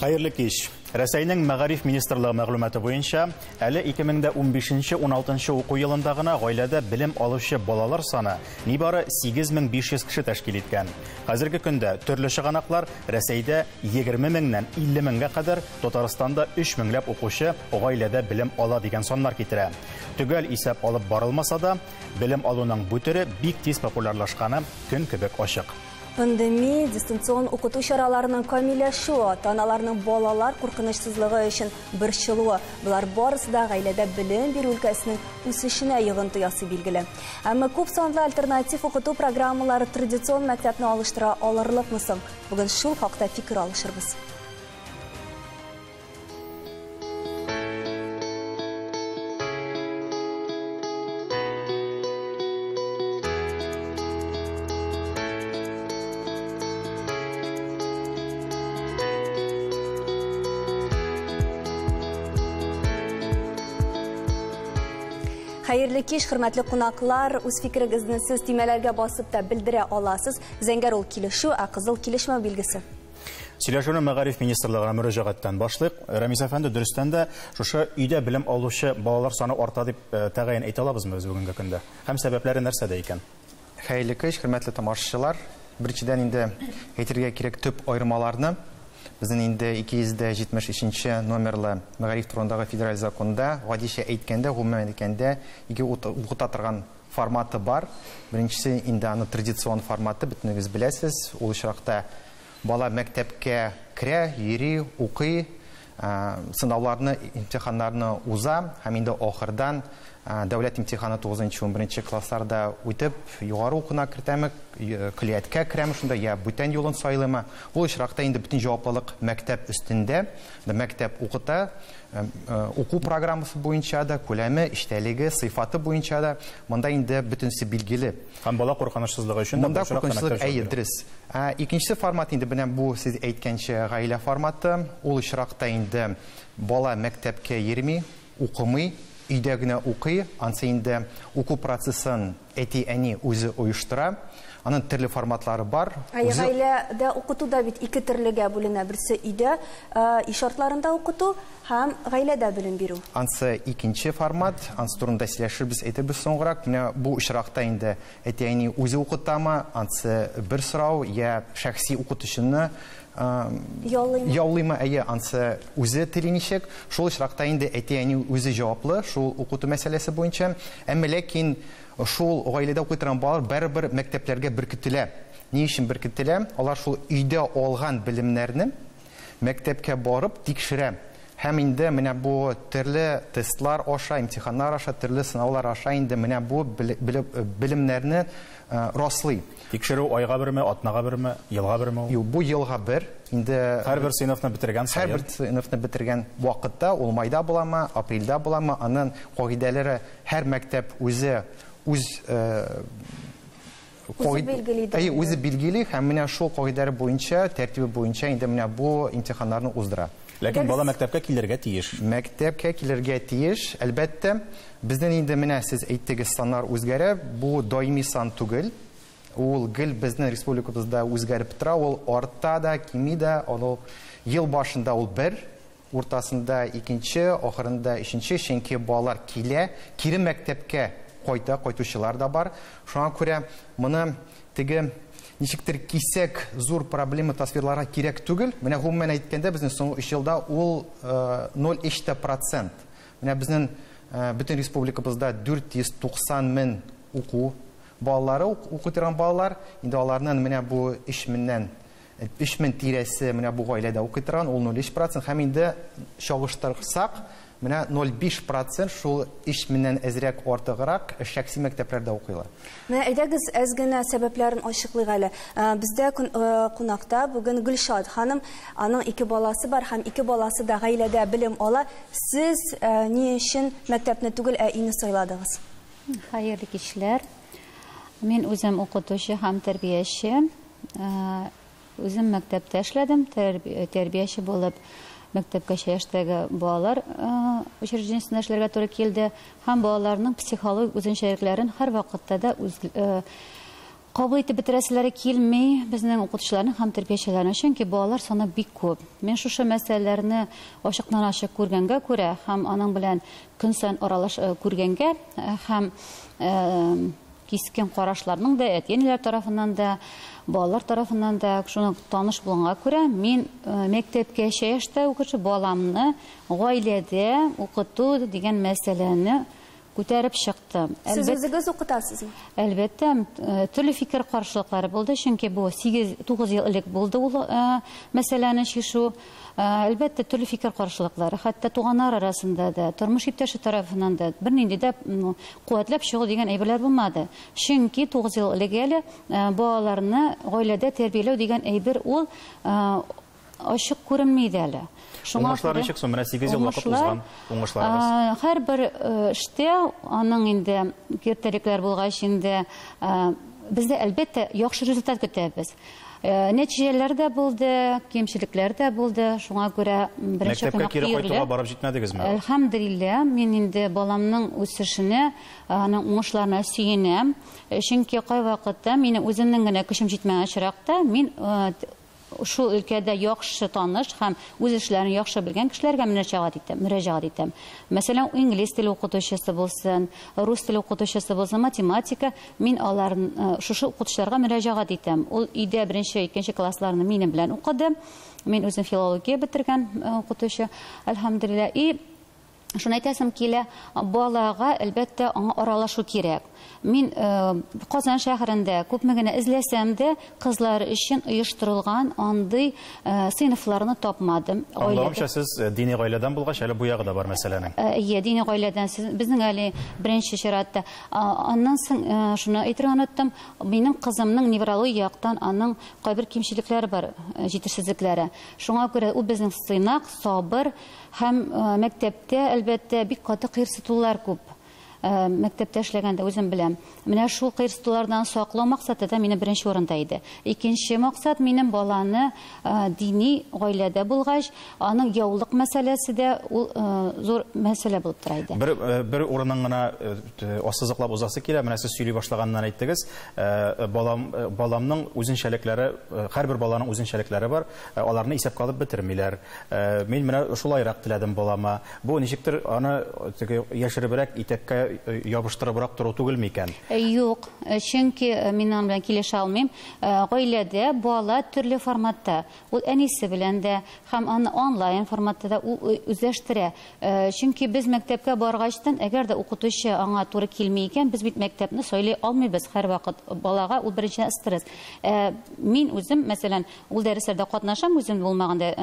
Хәерле кич. Рәсәйнең мәгариф министрлыгы мәгълүматы буенча, әле 2015-16 уку елында гына гаиләдә белем алучы балалар саны нибары 8500 кеше тәшкил иткән. Хәзерге көндә төрле чыганаклар Рәсәйдә Егерме меңнән илле меңгә кадәр Татарстанда өч меңләп укучы гаиләдә белем ала, дигән саннар китерә. Төгәл исәп алып барылмаса да, белем алуның бу төре бик тиз популярлашканы көн кебек ачык. Пандеми, дистанцион укыту чараларының камилләшүе, ата-аналарның балалар куркынычсызлыгы өчен борчылуы, болар барысы да гаиләдә белем бирү өлкәсенең үсешенә йогынты ясый, билгеле. Әмма күп санлы альтернатив укыту программалары традицион мәктәпне алыштыра алырлыкмы соң? Бүген шул хакта фикер алышырбыз. Хәерле кич, хөрмәтле кунаклар. Үз фикерегезне сез тимәләргә басып та белдерә аласыз. Зәңгәр ул килешү, ә кызыл килешмәү билгесе. Сөйләшүне мәгариф министрлыгына мөрәҗәгатьтән башлыйк. Рәмис әфәнде, дөрестән дә шушы өйдә белем алучы балалар саны арта дип э, тәгаен әйтә алабызмы без бүгенге көндә? Һәм сәбәпләре нәрсәдә икән? Хәерле кич, хөрмәтле тамашачылар. Беренчедән инде әйтергә кирәк төп аермаларны. Безнең инде 273 номерлы мәгариф турындагы федераль законда, гадичә әйткәндә, гомумән әйткәндә, ике укыта торган форматы бар. Беренчесе, инде аны традицион форматы, бөтенегез беләсез. Ул очракта бала мәктәпкә керә, йөри, укый, сынауларны, имтиханнарны уза һәм инде ахырдан дәүләт имтиханы 9-11 классларда үтеп, югары укуына кертәме, көллияткә керәме шунда, я бүтән юлын сайлыймы? Ул очракта инде бөтен җаваплылык мәктәп өстендә. Мәктәп укыта, Уку программасы буенча да, күләме, эчтәлеге, сыйфаты буенча да монда инде бөтенесе билгеле. Һәм бала куркынычсызлыгы өчен дә Монда куркынычсызлык әйе, дөрес. Икенчесе формат инде менә бу сез әйткәнчә гаилә форматы. Ул очракта инде бала мәктәпкә йөрми, укымый, өйдә генә укый. Ансы инде уку процессын Әти-әни үзе оештыра. Аның төрле форматлары бар. Әйе, Үзе- гаиләдә укыту да бит ике төрлегә бүленә. Берсе өйдә, ә, өй шартларында укыту һәм гаиләдә белем бирү. Ансы икенче формат. Ансы турында сөйләшербез, әйтербез соңгырак. Менә бу очракта инде әти-әни үзе укытамы? Ансы бер сорау. Йә шәхси укытучыны Яллыймы? Яллыймы, әйе, ансы үзе тели ничек. Шул очракта инде әти-әни үзе җаваплы шул укыту мәсьәләсе буенча. Әмма ләкин шул гаиләдә укый торган балалар барыбер мәктәпләргә беркетелә. Ни өчен беркетелә? Алар шул өйдә алган белемнәрне мәктәпкә барып тикшерә. Һәм инде менә бу төрле тестлар аша, имтиханнар аша, төрле сынаулар аша инде менә бу белемнәрне раслый. Тикшерү айга берме, атнага берме, елга берме ул? Юк, бу елга бер. Инде һәрбер сыйныфны бетергән саен. Һәрбер сыйныфны бетергән вакытта, ул майда буламы, апрельдә буламы, анын кагыйдәләре һәр мәктәп үзе үз Үзе билгели ди. Әйе, үзе билгели һәм менә шул кагыйдәләр буенча, тәртибе буенча инде менә бу имтиханнарны уздыра. Ләкин бала мәктәпкә килергә тиеш. Мәктәпкә килергә тиеш, әлбәттә. Безнен инде менә сез әйттегез, саннар үзгәрә. Бу даими сан түгел. Ул гел безнен республикабызда үзгәреп тора. Ул арта да, кими дә. Аны ел башында ул бер, уртасында икенче, ахырында өченче. Чөнки балалар килә, кире мәктәпкә кайта, кайтучылар да бар. Шуңа күрә моны Теге, ничектер, кисәк зур проблема тасвирларга кирәк түгел. Менә гомумән әйткәндә, безнең соңгы 3 елда ул 0,3 та процент. Менә безнең бөтен республикабызда 490 мең уку балалары укытырган балалар, инде аларның менә бу 3 меңнән Өч мең тирәсе менә бу гаиләдә укый торган, ул 0,3 процент. Һәм инде чагыштырсак, менә 0,5 процент шул өч меңнән әзрәк артыграк шәхси мәктәпләрдә укыйлар. Менә әйдәгез, әз генә сәбәпләрен ачыклыйк әле. Бездә кунакта бүген Гөлшат ханым, аның ике баласы бар һәм ике баласы да гаиләдә белем ала. Сез ни өчен мәктәпне түгел, ә өйне сайладыгыз? Хәерле кичләр. Мин үзем укытучы һәм тәрбияче. Үзем мәктәптә эшләдем, тәрбияче булып мәктәпкәчә яшьтәге балалар учреждениесендә эшләргә туры килде һәм балаларның психологик үзенчәлекләрен һәрвакытта да кабул итеп бетерәселәре килми безнең укытучыларның һәм тәрбиячеләрнең, чөнки балалар саны бик күп. Мин шушы мәсьәләләрне ачыктан-ачык күргәнгә күрә һәм аның белән көн саен аралаш күргәнгә һәм Кискен карашларның да, әти-әниләр тарафыннан да, балалар тарафыннан да шуны таныш булганга күрә, мин мәктәпкәчә яшьтә укучы баламны гаиләдә укыту дигән мәсьәләне күтәреп чыктым. Сез үзегез укытасызмы? Әлбәттә, төрле фикер каршылыклары булды, чөнки бу 8-9 ел элек булды ул мәсьәләне чишү. Әлбәттә, төрле фикер каршылыклары, хәтта туганнар арасында да, тормыш иптәше тарафыннан да бернинди дә куәтләп чыгу дигән әйберләр булмады. Чөнки тугыз ел элек әле балаларны гаиләдә тәрбияләү дигән әйбер ул ачык күренми иде әле. Шуңа Уңышлар күрә- ничек соң? Менә сигез ел вакыт Уңышлар, узган. Уңышларыгыз. а, Һәрбер э, эштә аның инде киртәлекләр булгач инде э, без дә әлбәттә яхшы результат көтәбез. Нәтиҗәләр дә булды, кимчелекләр дә булды. Шуңа күрә беренче Мәктәпкә кунак кире өйрилә. кайтуга барып җитмәдегезме? Әлхәмдулилла, мин инде баламның үсешенә, аның уңышларына сөенәм. Чөнки кайвакытта минем үземнең генә көчем җитмәгән очракта, мин шул өлкәдә яхшы таныш һәм үз эшләрен яхшы белгән кешеләргә мөнәҗәгать итәм, мөрәҗәгать итәм. Мәсәлән, инглиз теле укытучысы булсын, рус теле укытучысы булсын, математика, Мин алар шушы укытучыларга мөрәҗәгать итәм. Ул өйдә беренче, икенче классларны минем белән укыды. Мин үзем филология бетергән э, укытучы, әлхәмдулилла. И Шуны әйтәсем килә, балага, әлбәттә, аңа аралашу кирәк. Мин э, Казан шәһәрендә күпме генә эзләсәм дә, кызлар өчен оештырылган андый э, сыйныфларны тапмадым. Аңлавымча, сез э, дини гаиләдән булгач, әле бу ягы да бар мәсьәләнең. Э, иә, дини гаиләдән. Сез, безнең әле беренче чиратта Аннан соң шуны әйтергә оныттым, минем кызымның неврология яктан аның кайбер кимчелекләре бар, җитешсезлекләре. Шуңа күрә ул безнең сыйнак, сабыр һәм мәктәптә, әлбәттә, бик каты кыерсытулар күп. Мәктәптә эшләгәндә үзем беләм. Менә шул кыерсытулардан саклау максаты да минем беренче урында иде. Икенче максат минем баланы дини гаиләдә булгач, Аның яулык мәсьәләсе дә ул зур мәсьәлә булып тора иде. Бер бер урынын гына ассызыклап узасы килә. Менә сез сөйли башлаганнан әйттегез. Балам баламның үзенчәлекләре, һәрбер баланың үзенчәлекләре бар. Аларны исәпкә алып бетермиләр. Мин менә шулайрак теләдем балама. Бу ничектер аны теге яшеребрәк итәккә ябыштырыбрак тору түгел микән? Юк, чөнки мин аның белән килешә алмыйм. Гаиләдә бала төрле форматта. Ул әнисе белән дә һәм аны онлайн форматта да үзләштерә. Чөнки без мәктәпкә баргачтан, әгәр дә укытучы аңа туры килми икән, без бит мәктәпне сайлый алмыйбыз һәрвакыт. Балага ул беренчедән стресс. Ә мин үзем, мәсәлән, ул дәресләрдә катнашам, үзем булмаганда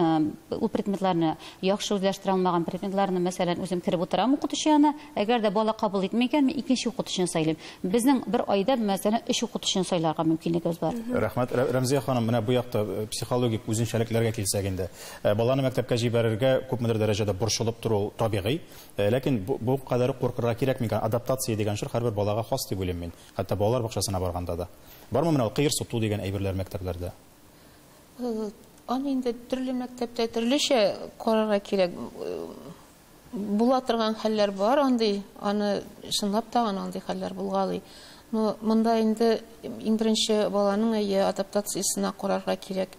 ул предметларны яхшы үзләштерә алмаган предметларны, мәсәлән, үзем кереп утырам укытучы янына. Әгәр дә бала кабул итми икән, мин икенче укытучыны сайлыйм. Безнең бер айда, мәсәлән, өч укытучыны сайларга мөмкинлегебез бар. Рәхмәт. Рәмзия ханым, менә бу якта э, психологик үзенчәлекләргә килсәк инде. Э, баланы мәктәпкә җибәрергә күпмедер дәрәҗәдә борчылып тору ул табигый. Э, ләкин бу, бу кадәр куркырга кирәк микән? Адаптация дигән чор һәрбер балага хас дип уйлыйм мин. Хәтта балалар бакчасына барганда да. Бармы менә ул кыер суту дигән әйберләр мәктәпләрдә? Аны инде төрле мәктәптә төрлечә карарга кирәк. Була торган хәлләр бар андый, аны чынлап та андый хәлләр булгалый. Ну, монда инде иң беренче баланың әйе адаптациясенә карарга кирәк.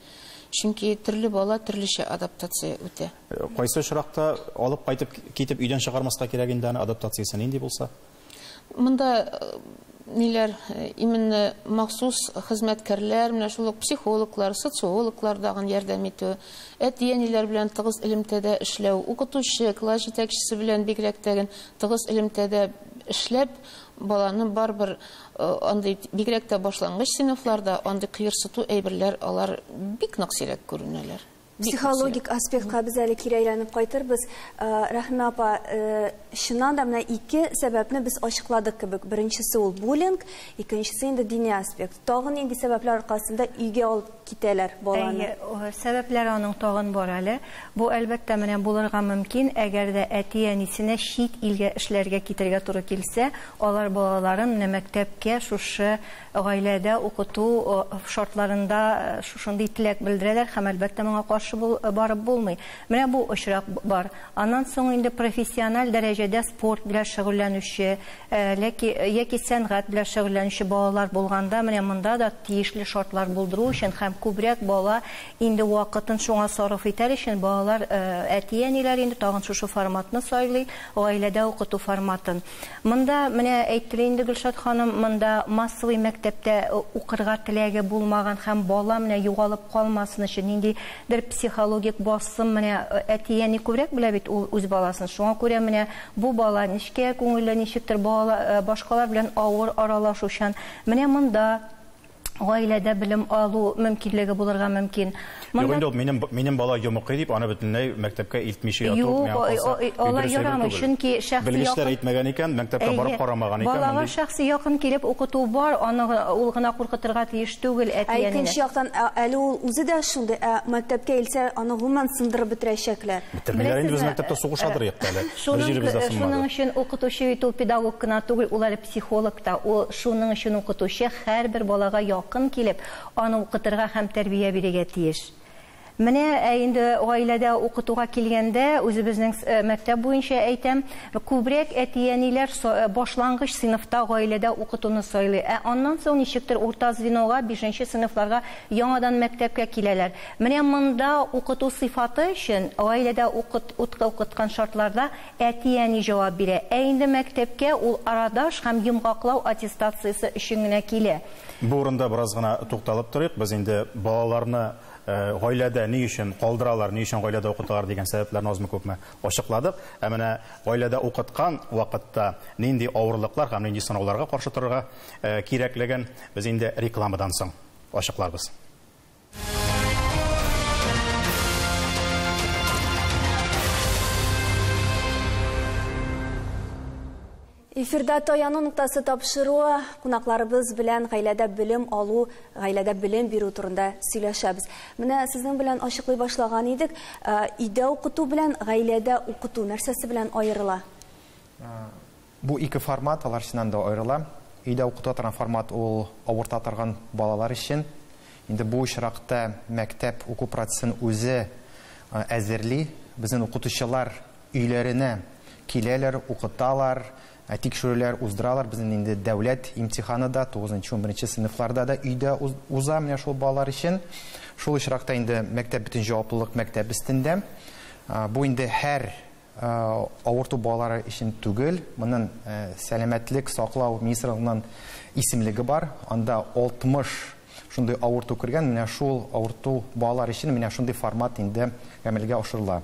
Чөнки төрле бала төрлечә адаптация үтә. Кайсы очракта алып кайтып, китеп өйдән чыгармаска кирәк инде аны адаптациясе нинди булса? Монда ниләр именно махсус хезмәткәрләр, менә шул ук психологлар, социологлар дагын ярдәм итү, әти-әниләр белән тыгыз элемтәдә эшләү, укытучы, класс җитәкчесе белән бигрәк тә тыгыз элемтәдә эшләп, баланы барыбер андый бигрәк тә башлангыч сыйныфларда андый кыерсыту әйберләр алар бик нык сирәк күренәләр. Психологик аспектка без әле кире әйләнеп кайтырбыз. Рәхимә апа, чыннан да менә ике сәбәпне без ачыкладык кебек. Беренчесе ул буллинг, икенчесе инде дини аспект. Тагын нинди сәбәпләр аркасында өйгә алып китәләр баланы? Әйе, сәбәпләр аның тагын бар әле. Бу, әлбәттә, менә булырга мөмкин, әгәр дә әти-әнисенә чит илгә эшләргә китергә туры килсә, алар балаларын менә мәктәпкә шушы Гаиләдә укыту шартларында шушындый теләк белдерәләр һәм, әлбәттә, моңа каршы барып булмый. Менә бу очрак бар. Аннан соң инде профессиональ дәрәҗәдә спорт белән шөгыльләнүче яки сәнгать белән шөгыльләнүче балалар булганда, менә монда да тиешле шартлар булдыру өчен һәм күбрәк бала инде вакытын шуңа сарыф итәр өчен балалар, әти-әниләр инде тагын шушы форматны сайлый, гаиләдә укыту форматын. Монда, менә әйтте лә инде Гөлшат ханым, монда массовый мәктәптә укырга теләге булмаган һәм бала менә югалып калмасын өчен нинди бер психологик басым, менә әти-әни күбрәк белә бит ул үз баласын, шуңа күрә менә бу бала нечкә күңелле, ничектер балала башкалар белән авыр аралашучан, менә монда. гаиләдә белем алу мөмкинлеге булырга мөмкин. Юк инде ул минем минем бала йомыкый дип аны бөтенләй мәктәпкә илтмичә яту миңа калса. Юк, алай ярамый, чөнки шәхси якын. Белгечләр әйтмәгән икән, мәктәпкә барып карамаган икән. Балага шәхси якын килеп укыту бар, аны ул гына куркытырга тиеш түгел әти-әнине. Ә икенче яктан, әле ул үзе дә шундый, ә мәктәпкә илсә, аны гомумән сындырып бетерәчәкләр. Бетермиләр инде, без мәктәптә сугышадыр юк әле. Бер җиребез дә сынмады. Шуның өчен укытучы бит ул педагог кына түгел, ул әле Психолог та, ул шуның өчен укытучы, һәрбер балага якын килеп, аны укытырга һәм тәрбия бирергә тиеш. Менә ә инде гаиләдә укытуга килгәндә, үзебезнең мәктәп буенча әйтәм, күбрәк әти-әниләр башлангыч сыйныфта гаиләдә укытуны сайлый, ә аннан соң ничектер урта звенога, бишенче сыйныфларга яңадан мәктәпкә киләләр. Менә монда укыту сыйфаты өчен гаиләдә укыт, уткыукыткан шартларда Әти-әни җавап бирә. Ә инде мәктәпкә ул арадаш һәм йомгаклау аттестациясе өчен генә килә. Бу урында бераз гына тукталып торыйк. Без инде балаларны гаиләдә ни өчен калдыралар, ни өчен гаиләдә укыталар дигән сәбәпләрне азмы-күпме ачыкладык. Ә менә гаиләдә укыткан вакытта нинди авырлыклар һәм нинди сынауларга каршы торырга кирәклеген без инде рекламадан соң ачыкларбыз. Эфирда таяну ноктасы тапшыруы кунакларыбыз белән гаиләдә белем алу, гаиләдә белем бирү турында сөйләшәбез. Менә сезнең белән ачыклый башлаган идек. Ә, өйдә укыту белән гаиләдә укыту нәрсәсе белән аерыла? Бу ике формат алар эченнән дә аерыла. Өйдә укыта торган формат ул авырта торган балалар өчен. Инде бу очракта мәктәп уку процессын үзе әзерли. Безнен укытучылар өйләренә киләләр, укыталар, тикшерүләр уздыралар. Безнен инде дәүләт имтиханы да тугызынчы, унберенче сыйныфларда да өйдә уза менә шул балалар өчен. Шул очракта инде мәктәп бөтен җаваплылык мәктәп өстендә. Бу инде һәр Авырту балалар өчен түгел, монын сәламәтлек саклау министрлыгыннан исемлеге бар, анда 60 шундый авырту кергән, менә шул авырту балалар өчен менә шундый формат инде гамәлгә ашырыла.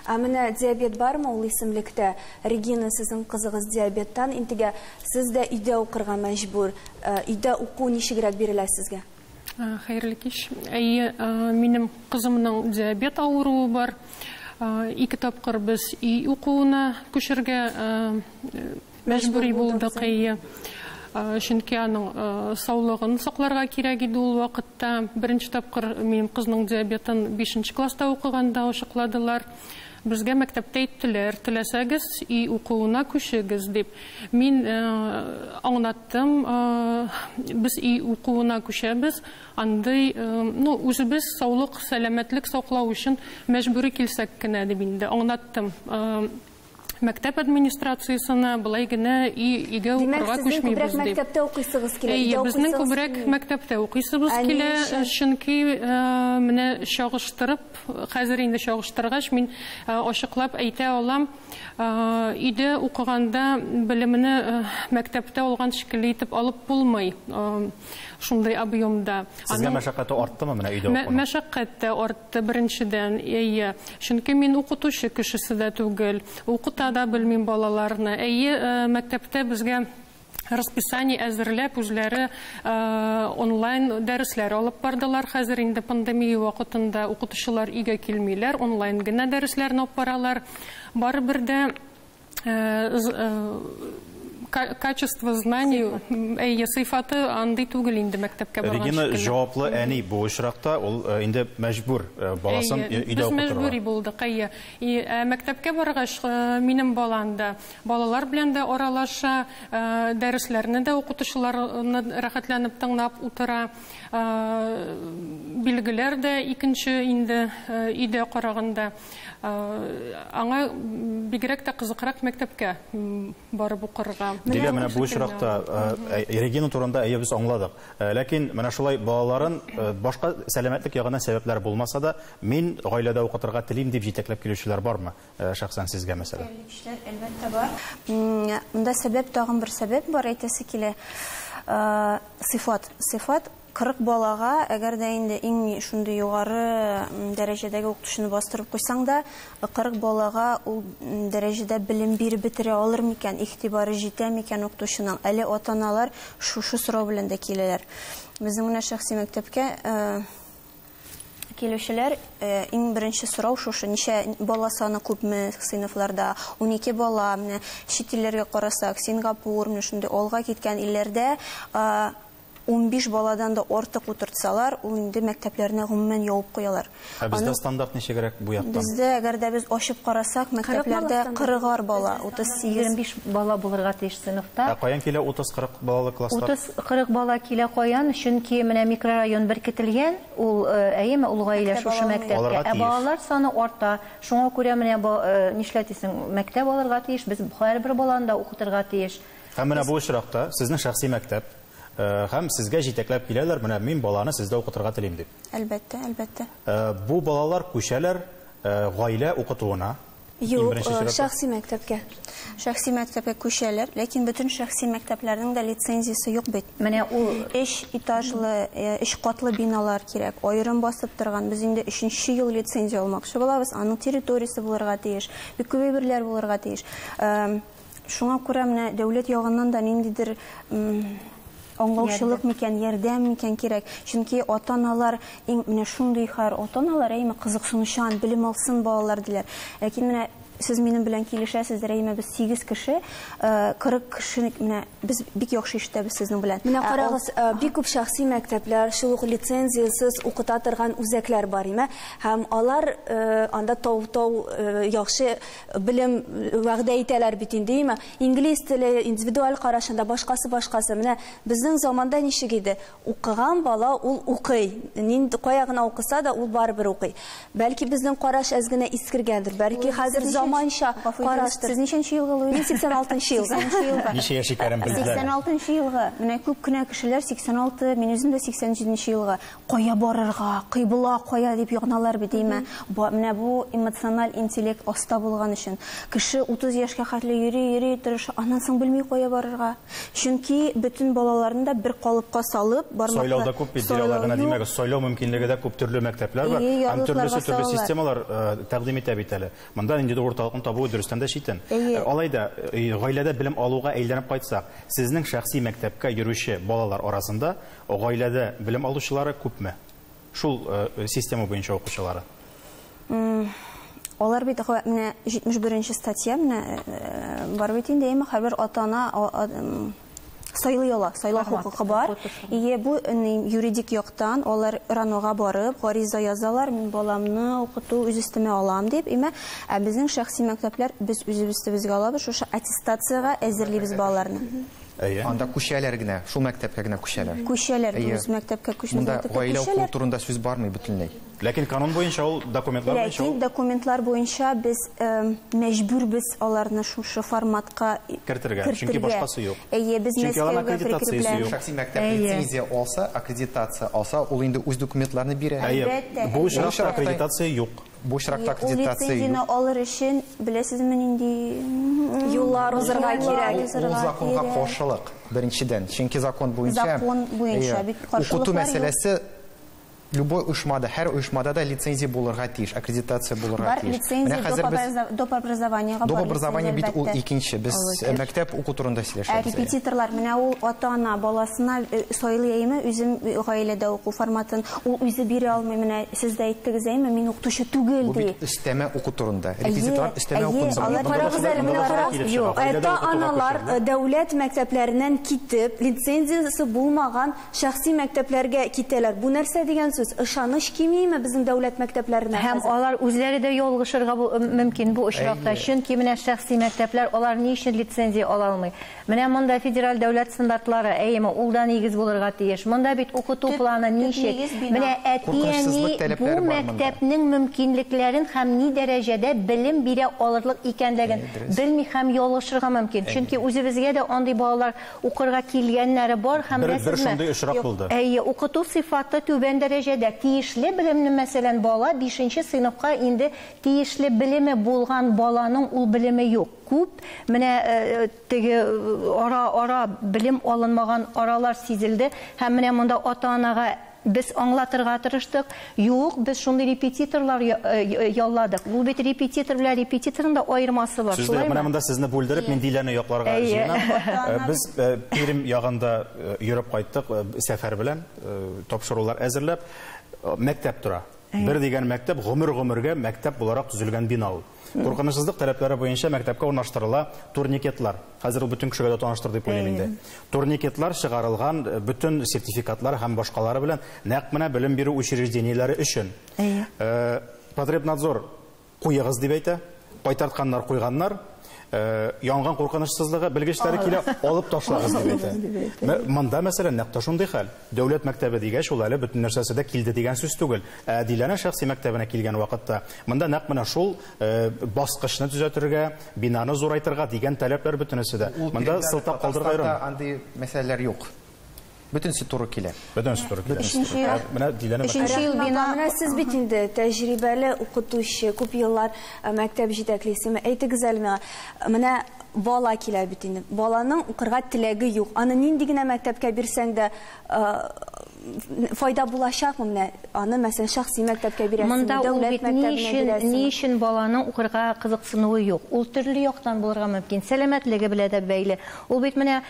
Ә менә диабет бармы ул исемлектә? Регина, сезнең кызыгыз диабеттан интегә, сез дә өйдә укырга мәҗбүр. Өйдә уку ничегрәк бирелә сезгә? Э, хәерле кич әйе э, минем кызымның диабет авыруы бар э, ике тапкыр без өй укуына күчергә мәҗбүри булдык әйе чөнки аның саулыгын сакларга кирәк иде ул вакытта беренче тапкыр минем кызның диабетын бишенче класста укыганда ачыкладылар Безгә мәктәптә әйттеләр, теләсәгез, өй укуына күчегез, дип. Мин аңлаттым, без өй укуына күчәбез, андый, ну, үзебез саулык, сәламәтлек саклау өчен мәҗбүри килсәк кенә, дип инде аңлаттым мәктәп администрациясенә, болай генә өйгә укырга күчмибез, дип. Димәк, сезнең күбрәк мәктәптә укыйсыгыз килә, өйдә укыйсыгыз килми? Әйе, безнең күбрәк мәктәптә укыйсыбыз килә, чөнки менә чагыштырып Хәзер инде чагыштыргач, мин ачыклап әйтә алам, өйдә укыганда белемне мәктәптә алган шикелле итеп алып булмый шундый объемда. Сезгә мәшәкате арттымы менә өйдә укуның? Мәшәкать тә артты беренчедән, әйе. Чөнки мин укытучы кешесе дә түгел, укыта да белмим балаларны. Әйе, мәктәптә безгә расписание әзерләп, үзләре онлайн дәресләр алып бардылар. Хәзер инде пандемия вакытында укытучылар өйгә килмиләр, онлайн генә дәресләрне алып баралар. Барыбер дә качество знаний, әйе, сыйфаты андый түгел инде мәктәпкә барган шикелле. Регина, җаваплы әни бу очракта, ул инде мәҗбүр баласын өйдә укытырга. Без мәҗбүри булдык, әйе. Ә мәктәпкә баргач, минем балам да Балалар белән дә аралаша, дәресләрне дә укытучыларны рәхәтләнеп тыңлап утыра. Билгеләр дә икенче инде өйдә караганда. Аңа бигрәк тә кызыкрак мәктәпкә барып укырга. Дилә, менә бу очракта Регина турында әйе без аңладык. Ләкин менә шулай балаларын башка сәламәтлек ягыннан сәбәпләр булмаса да, мин гаиләдә укытырга телим дип җитәкләп килүчеләр бармы? шәхсән сезгә мәсәлән? Белгечләр, әлбәттә, бар. Монда сәбәп, тагын бер сәбәп бар, әйтәсе килә. Сыйфат. Сыйфат 40 балага, әгәр дә инде иң шундый югары дәрәҗәдәге укытучыны бастырып куйсаң да, 40 балага ул дәрәҗәдә белем биреп бетерә алыр микән, игътибары җитә микән укытучының? Әле ата-аналар шушы сорау белән дә киләләр. Безнең менә шәхси мәктәпкә Килүчеләр иң беренче сорау шушы, ничә бала саны күпме сыйныфларда? Унике бала, менә чит илләргә карасак, Сингапур, менә шундый алга киткән илләрдә унбиш баладан да артык утыртсалар, ул инде мәктәпләрне гомумән ябып куялар. Ә бездә стандарт ничегрәк бу яктан? Бездә, әгәр дә без ачып карасак, мәктәпләрдә кырыгар бала, утыз сигез. Егерме биш бала булырга тиеш сыйныфта. Ә каян килә утыз-кырык балалы класслар? 40 бала килә каян, чөнки менә микрорайон беркетелгән, ул әйеме, ул гаилә шушы мәктәпкә, ә балалар саны арта, шуңа күрә менә нишләр дисең, мәктәп алырга тиеш, без һәрбер баланы да укытырга тиеш. Һәм менә бу очракта сезнең шәхси мәктәп, һәм сезгә җитәкләп киләләр, менә мин баланы сездә укытырга телим дип. Әлбәттә, әлбәттә. Бу балалар күчәләр гаилә укытуына, Юк, шәхси мәктәпкә. Шәхси мәктәпкә күчәләр, ләкин бөтен шәхси мәктәпләрнең дә лицензиясе юк бит. Менә ул өч этажлы, өч катлы биналар кирәк. Аерым басып торган. Без инде өченче ел лицензия алмакчы булабыз. Аның территориясе булырга тиеш. Бик күп әйберләр булырга тиеш. Шуңа күрә менә дәүләт ягыннан да ниндидер аңлаучылык микән, ярдәм микән кирәк. Чөнки ата-аналар иң менә шундый хәр, ата-аналар әйме кызыксынучан, белем алсын балалар диләр. Ләкин менә сез минем белән килешәсез, Рәймә, без 8 кеше, 40 э, кеше менә без бик яхшы ишетәбез сезнең белән. Менә ә карагыз, э, бик күп шәхси мәктәпләр, шул ук лицензиясез укыта торган үзәкләр бар име, һәм алар э, анда тау-тау яхшы Белем вәгъдә итәләр бит инде, има. Инглиз теле, индивидуаль карашында, башкасы-башкасы. Менә безнең заманда ничек иде? Укыган бала, ул укый. Нинди, кая гына укыса да, ул барыбер укый. Бәлки безнең караш әз генә искергәндер, бәлки хәзер заманча караштыр. Сез ничәнче елгы, Луиза? Мин 86 нчы елгы. 86 нчы елгы. Ничә яши Кәрим, белделәрме? 86 нчы елгы. Менә күп кенә кешеләр 86, мин үзем дә 87 нче елгы. Кая барырга, кыйбла кая дип яналар бит, димә. Ба, менә бу эмоциональ интеллект оста булган өчен. Кеше 30 яшькә хәтле йөри, йөри, тырыша, аннан соң белми кая барырга. Чөнки бөтен балаларны да бер калыпка салып, бармаклар Сайлау да күп бит, бер алай гына димәгез. Сайлау мөмкинлеге дә күп, төрле мәктәпләр бар. Әйе, Һәм ярлыкларга төрлесе төрле салалар. системалар э, тәкъдим итә бит әле. Монда ниндидер урталыкны табуы дөрестән дә читен. Әйе. Э, Алай да, э, гаиләдә белем алуга әйләнеп кайтсак, сезнең шәхси мәктәпкә йөрүче балалар арасында Гаиләдә белем алучылары күпме? Шул система буенча укучылары? Алар бит менә 71 нче статья менә бар бит инде, әмма һәрбер ата-ана сайлый ала, сайлау хокукы бар. Ие бу юридик яктан алар РАНОга барып, гариза язалар, мин баламны укыту үз өстемә алам дип, име, ә безнең шәхси мәктәпләр без үзебез төзегә алабыз, шушы аттестациягә әзерлибез балаларны. Әйе. Анда күчәләр генә, шул мәктәпкә генә күчәләр. Күчәләр, дөрес, мәктәпкә күчмәс Монда мәктәпкә гаилә укуы күчәләр. турында сүз бармый бөтенләй. Ләкин канун буенча ул, документлар буенча Ләкин ул документлар буенча без эм, мәҗбүрбез аларны шушы форматка и- Кертергә, чөнки кертергә. башкасы юк. Әйе, без Чөнки аларның Мәскәүгә аккредитациясе прикрепляем. юк. Шәхси мәктәп Әйе. лицензия алса, аккредитация алса, ул инде үз документларны бирә. Әйе, Әлбәттә, бу әлбәттә. очракта аккредитация юк. Бу очракта аккредитация юк. Ул лицензияне алыр өчен, беләсезме, нинди юллар узырга кирәк? Ул законга каршылык, беренчедән. Чөнки закон буенча. Закон буенча бит каршылыклар юк. Укыту мәсьәләсе любой оешмада, һәр оешмада да лицензия булырга тиеш, аккредитация булырга тиеш. Бар лицензия доп образованиега бар. Доп образование бит ул икенче. Без мәктәп уку турында сөйләшәбез. Ә репетиторлар, менә ул ата-ана баласына сайлый әйеме, үзем гаиләдә уку форматын, ул үзе бирә алмый, менә Сез дә әйттегез, әйме, мин укытучы түгел, Бу ди. бит өстәмә уку турында. Әйе, Репетиторлар өстәмә әйе, укуны алар- сорый. Карагыз әле, менә карагыз, юк, Гаиләдә укытуга ата-аналар күчерү, да? дәүләт мәктәпләреннән китеп, лицензиясе булмаган шәхси мәктәпләргә китәләр. Бу нәрсә дигән сүз? Ышаныч кимиме безнең дәүләт мәктәпләренә Һәм хәзер? алар үзләре дә ялгышырга бу- мөмкин бу очракта. Әйе. Чөнки менә шәхси мәктәпләр, алар ни өчен лицензия ала алмый? Менә монда федераль дәүләт стандартлары, әйеме, ул да нигез булырга тиеш. Монда бит укыту планы ничек? Менә әти-әни бу мәктәпнең мөмкинлекләрен һәм ни дәрәҗәдә белем бирә алырлык икәнлеген белми һәм ялгышырга мөмкин. Чөнки үзебезгә дә андый балалар укырга килгәннәре бар һәм беләсезме? Әйе, укыту сыйфаты түбән дәрәҗәдә. Тиешле белемне, мәсәлән, бала бишенче сыйныфка инде тиешле белеме булган баланың ул белеме юк. Күп, менә теге ара-ара белем алынмаган аралар сизелде һәм менә монда ата-анага без аңлатырга тырыштык, юк, без шундый репетиторлар ялладык. Бу бит репетитор белән репетиторның да аермасы бар, шулаймы? Сүзне менә монда сезне бүлдереп, мин Диләне якларга җыенам. Без Пермь ягында йөреп кайттык сәфәр белән, тапшырулар әзерләп. Мәктәп тора. Бер дигән мәктәп, гомер-гомергә мәктәп буларак төзелгән бина ул. Куркынычсызлык таләпләре буенча мәктәпкә урнаштырыла турникетлар. Хәзер ул бөтен кешегә дә таныштыр дип уйлыйм инде. Турникетлар чыгарылган э, бөтен сертификатлар һәм башкалары белән нәкъ менә белем бирү учреждениеләре өчен. Әйе. Э, Потребнадзор куегыз дип әйтә, кайтартканнар куйганнар, Э, янгын куркынычсызлыгы белгечләре килә алып ташлагыз дип әйтә монда мәсәлән нәкъ шундый хәл Дәүләт мәктәбе дигәч, ул әле бөтен нәрсәсе дә килде дигән сүз түгел. Ә Диләнә шәхси мәктәбенә килгән вакытта, монда нәкъ менә шул баскычны төзәтергә, бинаны зурайтырга дигән таләпләр бөтенесе дә. Монда сылтап калдырырга ярыймы? Татарстанда андый мәсьәләләр юк. Бөтенесе туры килә. Бөтенесе туры килә. Өченче ел. Менә Диләнә мәктәбе. Өченче ел бина. Менә сез бит инде тәҗрибәле укытучы, күп еллар мәктәп җитәклисеме. Әйтегез әле миңа, менә Бала килә бит инде. Баланың укырга теләге юк. Аны нинди генә мәктәпкә бирсәң дә, файда булачакмы менә? Аны, мәсәлән, шәхси мәктәпкә бирәсеңме, дәүләт мәктәбенә бирәсеңме? Ни өчен баланың укырга кызыксынуы юк? Ул төрле яктан булырга мөмкин. Сәламәтлеге белән дә бәйле. Ул бит менә,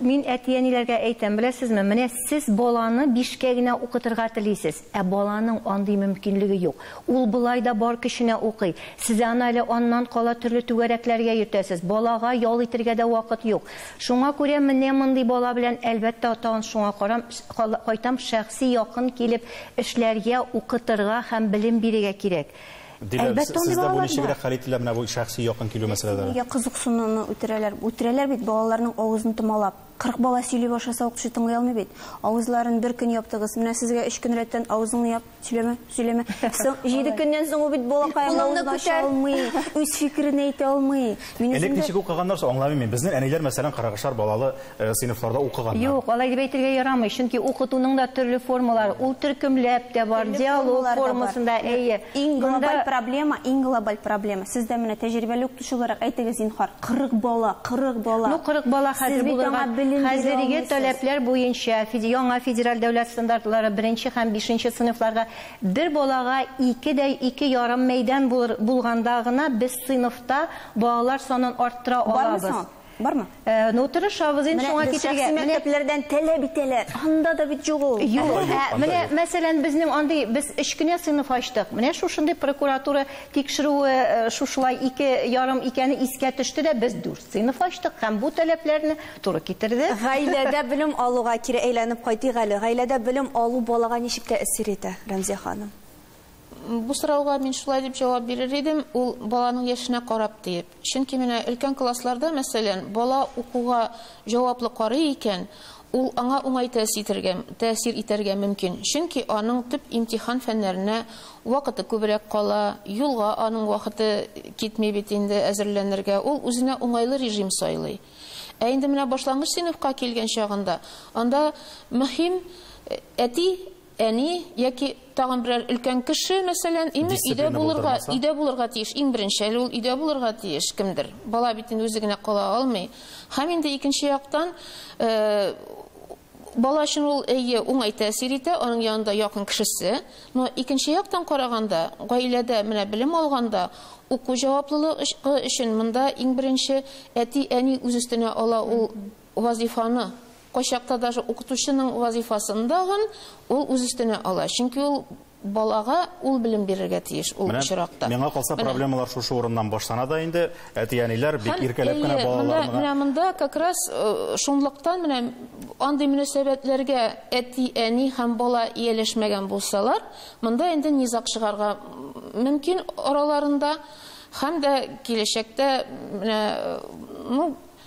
мин әти-әниләргә әйтәм, беләсезме, менә сез баланы бишкә генә укытырга телисез. Ә баланың андый мөмкинлеге юк. Ул болай да бар көченә укый. Сез аны әле аннан кала төрле түгәрәкләргә йөртәсез. Балага ял итергә дә вакыт юк. Шуңа күрә менә мондый бала белән, әлбәттә, тагын шуңа карам, кайтам, шәхси якын килеп эшләргә, укытырга һәм белем бирергә кирәк. Дилә, Әлбәттә, андый сездә бу балалар бар. ничегрәк хәл ителә менә бу шәхси якын килү мәсьәләләре? Нигә кызыксынуны үтерәләр? Үтерәләр бит балаларның авызын томалап. Кырык бала сөйли башласа укытучы тыңлый алмый бит. Авызларын бер көн яптыгыз. Менә сезгә өч көн рәттән авызыңны яп, сөйләмә, сөйләмә. Соң җиде көннән соң ул бит балакаем Кулыңны авызын ача күтәр. алмый, үз фикерен әйтә алмый. Мин Элек үземдә ничек укыганнар соң, аңламыйм мин. Безнең әниләр, мәсәлән, кырыгышар балалы э, сыйныфларда укыганнар. Юк, алай дип әйтергә ярамый, чөнки укытуның да төрле формалары, ул төркемләп тә бар, Төрле диалог формалар да бар. формасында, әйе. Иң Монда- глобаль проблема, иң глобаль проблема. Сез дә менә тәҗрибәле укытучы. Шуларак әйтегез, зинһар. Кырык бала, кырык бала! Ну, кырык бала хәзер булырга, хәзерге таләпләр буенча, яңа федераль дәүләт стандартлары, беренче һәм бишенче сыйныфларга бер балага ике дә ике ярым мәйдан булганда гына без сыйныфта балалар санын арттыра алабыз. Бармы? Э, ну, тырышабыз инде шуңа китергә. Менә мәктәпләрдән таләп итәләр. Анда да бит юк ул. Юк. Ә, менә, мәсәлән, безнең андый, без өч кенә сыйныф ачтык. Менә шушындый прокуратура тикшерүе э, шушылай ике ярым икәне искә төште дә, без дүрт сыйныф ачтык һәм бу таләпләрне туры китерде. Гаиләдә белем алуга кире әйләнеп кайтыйк әле. Гаиләдә белем алу балага ничек тәэсир итә, Рәмзия ханым? Бу сорауга мин шулай дип җавап бирер идем, ул баланың яшенә карап диеп. Чөнки менә өлкән классларда, мәсәлән, бала укуга җаваплы карый икән, ул аңа уңай тәэсир итәргә мөмкин, чөнки аның төп имтихан фәннәренә вакыты күбрәк кала, юлга аның вакыты китми бит инде әзерләнергә, ул үзенә уңайлы режим сайлый. Ә инде менә башлангыч сыйныфка килгән чагында, анда мөһим әти Әни яки тагын берәр өлкән кеше, мәсәлән, име, өйдә Дисциплина булырга, булдырмаса? өйдә булырга тиеш. Иң беренче әле ул өйдә булырга тиеш кемдер. Бала бит инде үзе генә кала алмый. Һәм инде икенче яктан, э, бала өчен ул, әйе, уңай тәэсир итә, аның янында якын кешесе. Но икенче яктан караганда, гаиләдә менә белем алганда, уку җаваплылыгы өч ы өчен монда иң беренче әти-әни үз өстенә ала ул вазыйфаны. Кайчакта даже укытучының вазыйфасын дагын ул үз өстенә ала. Чөнки ул балага ул белем бирергә тиеш ул очракта. Менә миңа калса проблемалар шушы урыннан башлана да инде. Әти-әниләр бик иркәләп кенә балаларына. Менә монда как раз шунлыктан менә андый мөнәсәбәтләргә әти-әни һәм бала ияләшмәгән булсалар, монда инде низаг чыгарга мөмкин араларында һәм дә киләчәктә менә ну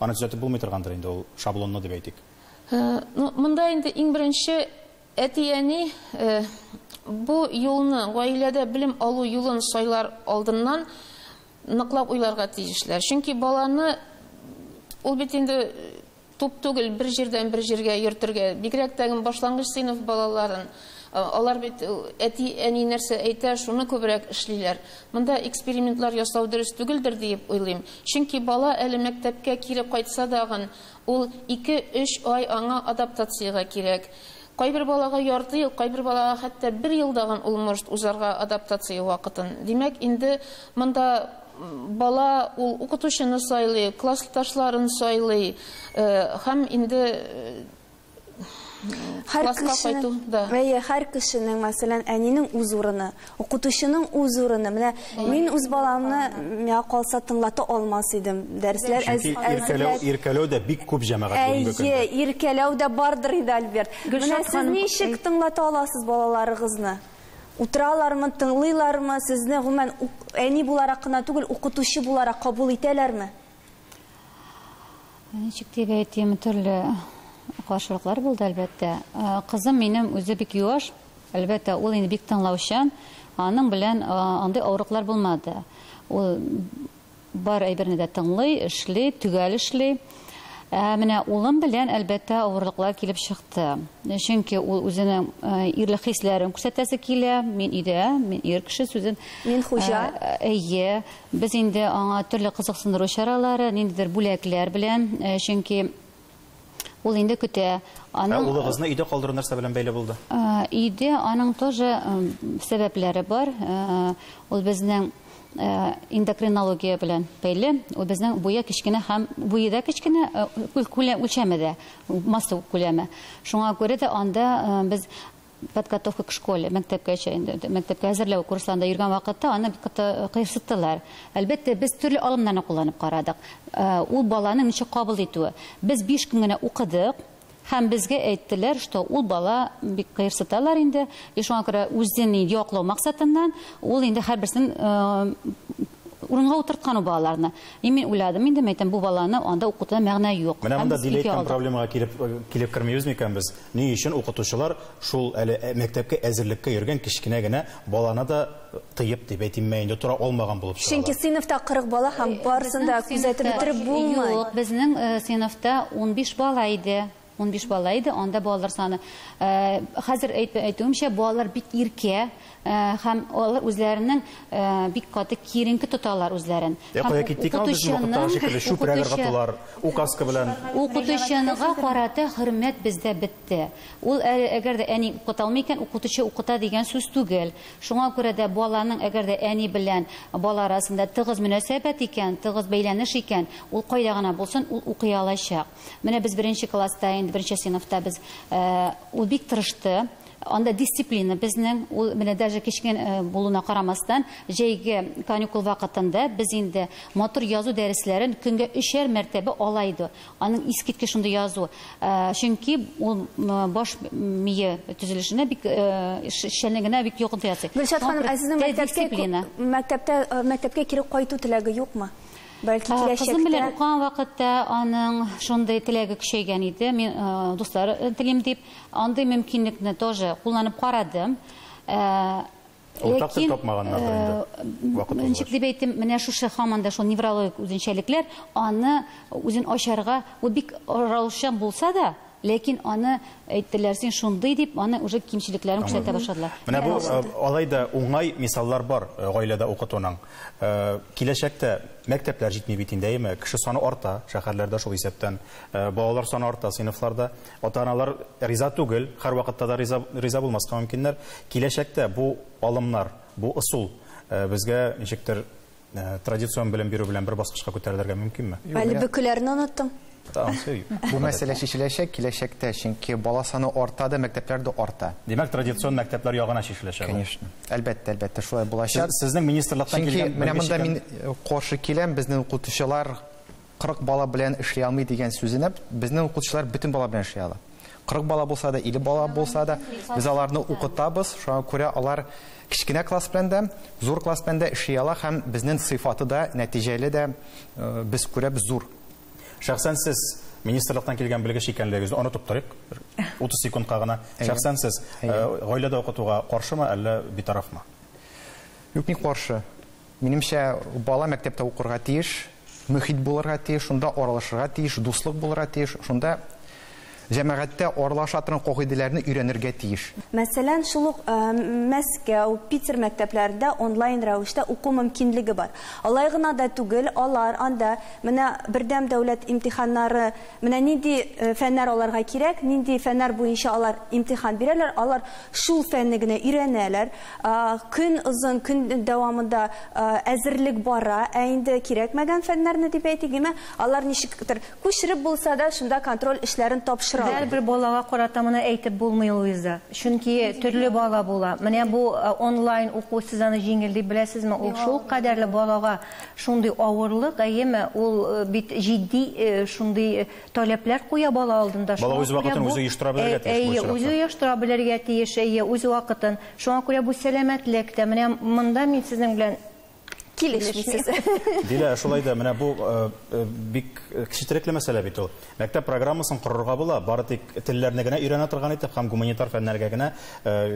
Аны төзәтеп булмый торгандыр инде, ул шаблонлы дип әйтик. Ну, монда инде иң беренче әти-әни бу юлны, гаиләдә белем алу юлын сайлар алдыннан ныклап уйларга тиешләр. Чөнки баланы ул бит инде туп түгел, бер җирдән бер җиргә йөртергә, бигрәк тә башлангыч сыйныф балаларын. Алар бит әти, әни нәрсә әйтә, шуны күбрәк эшлиләр. Монда экспериментлар ясау дөрес түгелдер диеп уйлыйм. Чөнки бала әле мәктәпкә кире кайтса дагын, ул ике, өч ай аңа адаптациягә кирәк. Кайбер балага ярты ел, кайбер балага хәтта бер ел дагын ул может узарга адаптация вакытын. Димәк, инде монда бала ул укытучыны сайлый, классташларын сайлый һәм инде Һәр кешенең, да. Әйе, һәр кешенең, мәсәлән, әнинең үз урыны, укытучының үз урыны. Менә мин үз баламны миңа калса тыңлата алмас идем. Дәресләр Чөнки иркәләү, иркәләү дә бик күп җәмәгать бүгенге көндә. Әйе, иркәләү дә бардыр инде, Альберт. Менә сез ничек тыңлата аласыз балаларыгызны? Утыралармы, тыңлыйлармы? Сезне гомумән әни буларак кына түгел, укытучы буларак кабул итәләрме? Ничек дип әйтим, төрле каршылыклар булды, әлбәттә. Кызым минем үзе бик юаш, әлбәттә, ул инде бик тыңлаучан, аның белән андый авырлыклар булмады. Ул бар әйберне дә тыңлый, эшли, төгәл эшли. Ә менә улым белән, әлбәттә, авырлыклар килеп чыкты. Чөнки ул үзенең ирлек хисләрен күрсәтәсе килә. Мин өйдә, мин ир кеше сүзен. Мин хуҗа. Әйе. Без инде аңа төрле кызыксындыру чаралары, ниндидер бүләкләр белән, чөнки ул инде көтә. Ә улыгызны өйдә калдыру нәрсә белән бәйле булды? Өйдә аның тоже сәбәпләре бар. Ул безнең эндокринология белән бәйле. Ул безнең буе кечкенә һәм буе да кечкенә, күләм үлчәме дә, масса күләме. Шуңа күрә дә анда без подготовка к школе, мәктәпкәчә инде, мәктәпкә әзерләү курсларында йөргән вакытта аны бик каты кыерсыттылар. Әлбәттә, без төрле алымнарны кулланып карадык. Э, ул баланың ничек кабул итүе. Без биш көн генә укыдык, һәм безгә әйттеләр, что ул бала бик кыерсыталар инде, и шуңа күрә үзен яклау максатыннан ул инде һәрберсен э, Урынга утырткан ул балаларны. И мин уйладым инде, мин әйтәм, бу баланы анда укытуда мәгънә юк. Менә монда диле әйткән проблемага килеп килеп кермибез микән без? Ни өчен укытучылар шул әле мәктәпкә әзерлеккә йөргән кечкенә генә баланы да тыеп дип әйтимме инде, тора алмаган булып чыгалар? Чөнки сыйныфта 40 бала һәм барысын да күзәтеп бетереп булмый. Юк, безнең сыйныфта унбиш бала иде. Унбиш бала иде, анда балалар саны. Хәзер әйтүемчә, балалар бик иркә һәм алар үзләренең бик каты киеренке тоталар үзләрен. Ә кая киттек ул безнең вакыттагы шикелле чүпрәк ыргытулар, указка белән? Укытучыга карата хөрмәт бездә бетте. Ул әгәр дә әни укыта алмый икән, укытучы укыта дигән сүз түгел. Шуңа күрә дә баланың әгәр дә әни белән бала арасында тыгыз мөнәсәбәт икән, тыгыз бәйләнеш икән, ул кайда гына булсын, ул укый алачак. Менә без беренче класста, инде беренче сыйныфта без ул бик тырышты. Анда дисциплина безнең, ул менә даже кечкенә э, булуына карамастан, җәйге каникул вакытында без инде мотор язу дәресләрен көнгә өчәр мәртәбә ала иде. Аның искиткеч шундый язу. Э, чөнки ул баш мие төзелешенә бик э, эшчәнлегенә бик йогынты ясый. Гөлшат ханым, ә сезнең мәктәпкә мәктәптә мәктәпкә кире кайту теләге юкмы? Бәлки киләчәктә. Кызым белән укыган вакытта аның шундый теләге көчәйгән иде, мин дуслар телим дип, андый мөмкинлекне тоже кулланып карадым. Уртак тел тапмаганнардыр инде вакыт узгач. Ничек дип әйтим, менә шушы һаман да шул неврологик үзенчәлекләр аны үзен ачарга, ул бик раушан булса да, Ләкин аны әйттеләр, син шундый дип, аны уже кимчелекләрен күрсәтә башладылар. Менә бу алай да уңай мисаллар бар гаиләдә укытуның. Киләчәктә мәктәпләр җитми бит инде, әйеме? Кеше саны арта, шәһәрләрдә шул исәптән. Балалар саны арта сыйныфларда. Ата-аналар риза түгел, һәрвакытта да риза риза булмаска мөмкиннәр. Киләчәктә бу алымнар, бу ысул безгә ничектер Ә, традицион белем бирү белән бер баскычка күтәрелергә мөмкинме? Әле бөкеләрне оныттым. Бу мәсьәлә чишеләчәк киләчәктә, чөнки бала саны арта да, мәктәпләр дә арта. Димәк, традицион мәктәпләр ягына чишеләчәк. Конечно. Әлбәттә, әлбәттә, шулай булачак. Сезнең министрлыктан килгән Чөнки менә монда мин каршы киләм, безнең укытучылар 40 бала белән эшли алмый дигән сүзенә безнең укытучылар бөтен бала белән эшли ала. 40 бала булса да, 50 бала булса да, без аларны укытабыз. Шуңа күрә алар кечкенә класс белән дә, зур класс белән дә эшли ала һәм безнең сыйфаты да, нәтиҗәле дә э, без күрәбез зур. Шәхсән сез министрлыктан килгән белгеч икәнлегегезне онытып торыйк. 30 секундка гына. Шәхсән сез э, гаиләдә укытуга каршымы, әллә битарафмы? Юк, ни каршы. Минемчә, бала мәктәптә укырга тиеш, мөхит булырга тиеш, шунда аралашырга тиеш, дуслык булырга тиеш, шунда җәмәгатьтә аралаша торган кагыйдәләрне өйрәнергә тиеш. Мәсәлән, шул ук Мәскәү, Питер мәктәпләрендә онлайн рәвештә уку мөмкинлеге бар. Алай гына да түгел, алар анда менә Бердәм дәүләт имтиханнары Менә нинди фәннәр аларга кирәк, нинди фәннәр буенча алар имтихан бирәләр, алар шул фәнне генә өйрәнәләр. Көн озын, көн дәвамында әзерлек бара, ә инде кирәкмәгән фәннәрне, дип әйтик, димә, алар ничектер күчереп булса да, шунда контроль эшләрен тапшыралар. Һәрбер балага карата моны әйтеп булмый, Луиза. Чөнки төрле бала була. Менә бу онлайн уку, сез аны җиңел дип беләсезме? Ул шулкадәрле балага Шундый авырлык, әйеме, ул бит җитди шундый таләпләр куя бала алдында. Шуңа күрә бу... Бала үз вакытын үзе оештыра белергә тиеш бу очракта. Әйе, үзе оештыра белергә тиеш, әйе, үз вакытын. Шуңа күрә бу сәламәтлек тә. Менә монда мин сезнең белән килешмисез. Дилә, шулай да менә бу бик кечетерекле мәсьәлә бит ул. Мәктәп программасын корырга була, бары тик телләрне генә өйрәнә торган итеп һәм гуманитар фәннәргә генә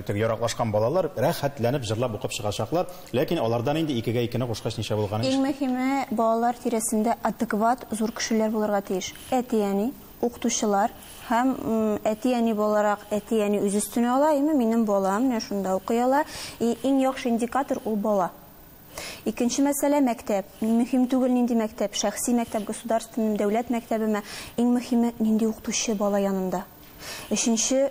теге яраклашкан балалар рәхәтләнеп җырлап укып чыгачаклар, ләкин алардан инде икегә икене кушкач ничә булган ич. Иң мөһиме, балалар тирәсендә адекват зур кешеләр булырга тиеш, әти-әни, укытучылар һәм әти-әни буларак, әти-әни үз өстенә ала, әйме, минем балам менә шунда укый ала, и иң яхшы индикатор ул бала. Икенче мәсьәлә, мәктәп. Ни мөһим түгел, нинди мәктәп, шәхси мәктәп, государственныймы, дәүләт мәктәбеме, иң мөһиме, нинди укытучы бала янында. Өченче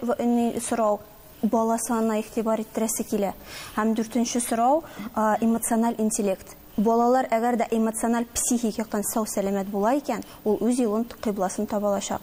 сорау, бала санына игътибар иттерәсе килә. Һәм дүртенче сорау, эмоциональ интеллект. Балалар әгәр дә эмоциональ, психик яктан сау-сәламәт була икән, ул үз юлын, кыйбласын таба алачак.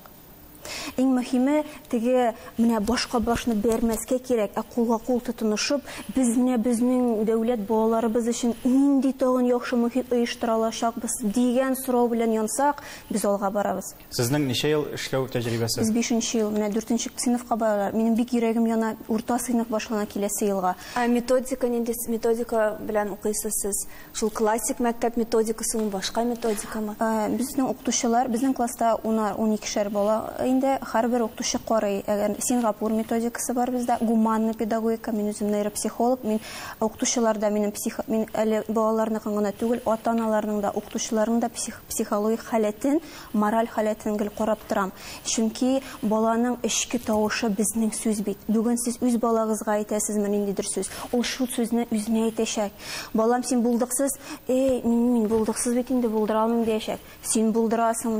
Иң мөһиме, теге менә башка башны бәрмәскә кирәк, ә кулга-кул тотынышып, без менә безнең дәүләт балаларыбыз өчен нинди тагын яхшы мохит оештыра алачакбыз, дигән сорау белән янсак, без алга барабыз. Сезнең ничә ел эшләү тәҗрибәсе? Без бишенче ел, менә дүртенче сыйныфка баралар. Минем бик йөрәгем яна, урта сыйныф башлана киләсе елга. Ә методика нинди методика белән укыйсыз сез? Шул классик мәктәп методикасымы, башка методикамы? Безнең укытучылар, безнең класста унар, уникешәр бала инде, һәрбер укытучы карый. Әгәр Сингапур методикасы бар бездә, гуманный педагогика, мин үзем нейропсихолог, мин укытучылар да минем псих, мин әле балаларныкын гына түгел, ата-аналарның да, укытучыларның да псих, психологик халәтен Мораль халәтен гел карап торам, чөнки баланың эчке тавышы безнең сүз бит. Бүген сез үз балагызга әйтәсезме ниндидер сүз, ул шул сүзне үзенә әйтәчәк. Балам, син булдыксыз, Әй, мин, мин булдыксыз бит инде, булдыра алмыйм, диячәк. Син булдырасың,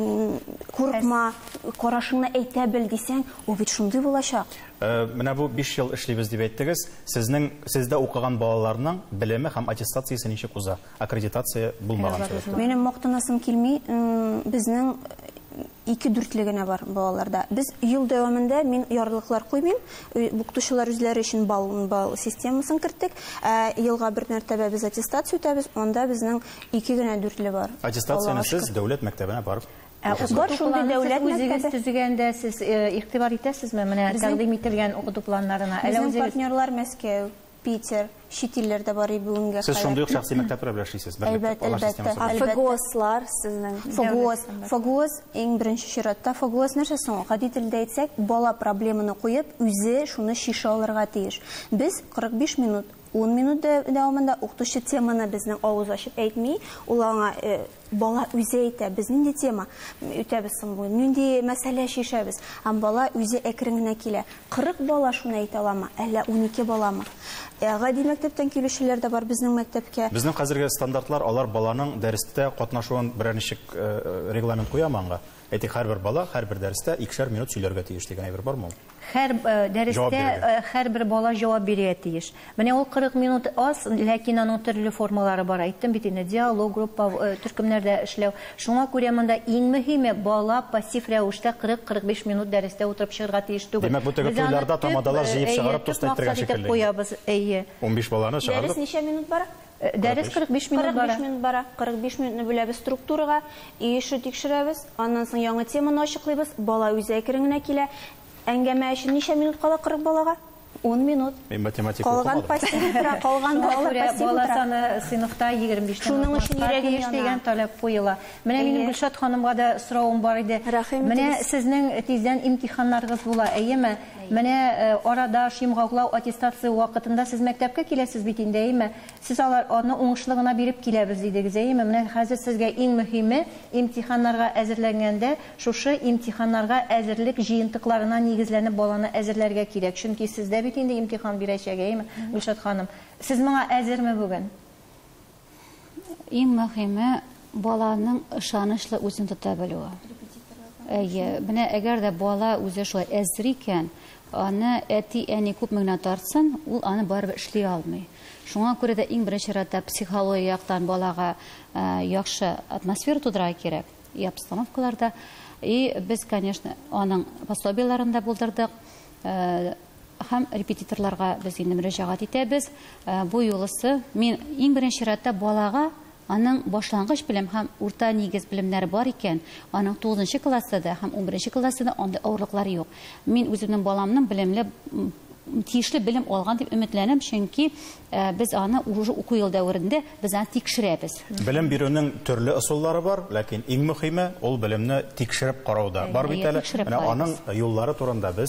курыкма, карашыңны әйтә бел, дисәң, ул бит шундый булачак. Менә бу биш ел эшлибез дип әйттегез. Сезнең, сездә укыган балаларның белеме һәм аттестациясе ничек уза? Аккредитация булмаган сәбәпле. Минем мактанасым килми, безнең ике дүртле генә бар балаларда. Без ел дәвамында мин ярлыклар куймыйм. Укытучылар үзләре өчен бал, бал системасын керттек. Ә елга бер мәртәбә без аттестация үтәбез, анда безнең ике генә дүртле бар. Аттестацияне сез дәүләт мәктәбенә барып Ә бар шундый дәүләт үзегез төзегәндә сез игътибар итәсезме менә тәкъдим ителгән укыту планнарына? Безнең партнерлар Мәскәү. Питер, чит илләр дә барый бүгенгә кадәр. Сез шундый ук шәхси мәктәпләр белән эшлисез, бер мәктәп, алар системасы бар. Әлбәттә, әлбәттә. ФГОСлар сезнең. ФГОС, ФГОС, иң беренче чиратта, ФГОС нәрсә соң ул? Гади телдә әйтсәк, бала проблеманы куеп, үзе шуны чишә алырга тиеш. Без 45 минут, 10 минут дәвамында укытучы теманы безнең авыз ачып әйтми, ул аңа, Бала үзе әйтә, без нинди тема үтәбез соң бүген, нинди мәсьәлә чишәбез. Һәм бала үзе әкрен генә килә. 40 бала шуны әйтә аламы, әллә унике баламы? Ә гади мәктәптән килүчеләр дә бар безнең мәктәпкә. Безнең хәзерге стандартлар, алар баланың дәрестә катнашуын берәр ничек регламент куямы аңга? Әйтик, һәрбер бала һәрбер дәрестә икешәр минут сөйләргә тиеш дигән әйбер бармы ул? Хәр дәрестә һәрбер бала җавап бирергә тиеш. Менә ул 40 минут аз, ләкин аның төрле формалары бар. Әйттем бит инде, диалог, группа, төркемнәрдә эшләү. Шуңа күрә монда иң мөһиме, бала пассив рәвештә 40-45 минут дәрестә утырып чыгарга тиеш түгел. Димәк, бу теге туйларда тамадалар җыеп чыгарып туста иттергән шикелле. Әйе. 15 баланы чыгардык. Дәрес ничә минут бара? Дәрес 45 минут бара. 45 минут бара. 45 минутны бүләбез структурага, өй эше тикшерәбез, аннан соң яңа теманы ачыклыйбыз, бала үзе әкрен генә килә. Әңгәмә өчен ничә минут кала 40 балага? 10 минут. Мин математика укымадым. Калган пассив утыра, калган бала пассив утыра. Бала саны сыйныфта 25 тән артмаска тиеш дигән таләп куела. Менә минем Гөлшат ханымга да соравым бар иде. Менә сезнең тиздән имтиханнарыгыз була, әйеме? Менә арада шимгаглау аттестация вакытында сез мәктәпкә киләсез бит инде, әйеме? Сез алар, аны уңышлы гына биреп киләбез, дидегез, әйеме? Менә хәзер сезгә иң мөһиме, имтиханнарга әзерләнгәндә, шушы имтиханнарга әзерлек җыентыкларына нигезләнеп баланы әзерләргә кирәк. Чөнки сездә бит инде имтихан бирәчәк, әйеме, Гөлшат ханым? Сез моңа әзерме бүген? Иң мөһиме баланың ышанычлы үзен тота белүе. Әйе, менә әгәр дә бала үзе шулай әзер икән, аны әти-әни күпме генә тартсын, ул аны барыбер эшли алмый. Шуңа күрә дә иң беренче чиратта психология яктан балага э, яхшы атмосфера тудырырга кирәк и обстановкаларда. И без, конечно, аның пособиеләрен дә булдырдык. Э, Һәм репетиторларга без инде мөрәҗәгать итәбез. Бу юлысы мин иң беренче чиратта балага аның башлангыч белем һәм урта нигез белемнәре бар икән, аның тугызынчы класста да һәм унберенче класста да андый авырлыклар юк. Мин үземнең баламның белемле, тиешле белем алган дип өметләнәм, чөнки без аны уже уку ел дәверендә без аны тикшерәбез. Белем бирүнең төрле ысуллары бар, ләкин иң мөхиме, ул белемне тикшереп карау да бар бит әле. Менә аның юллары турында без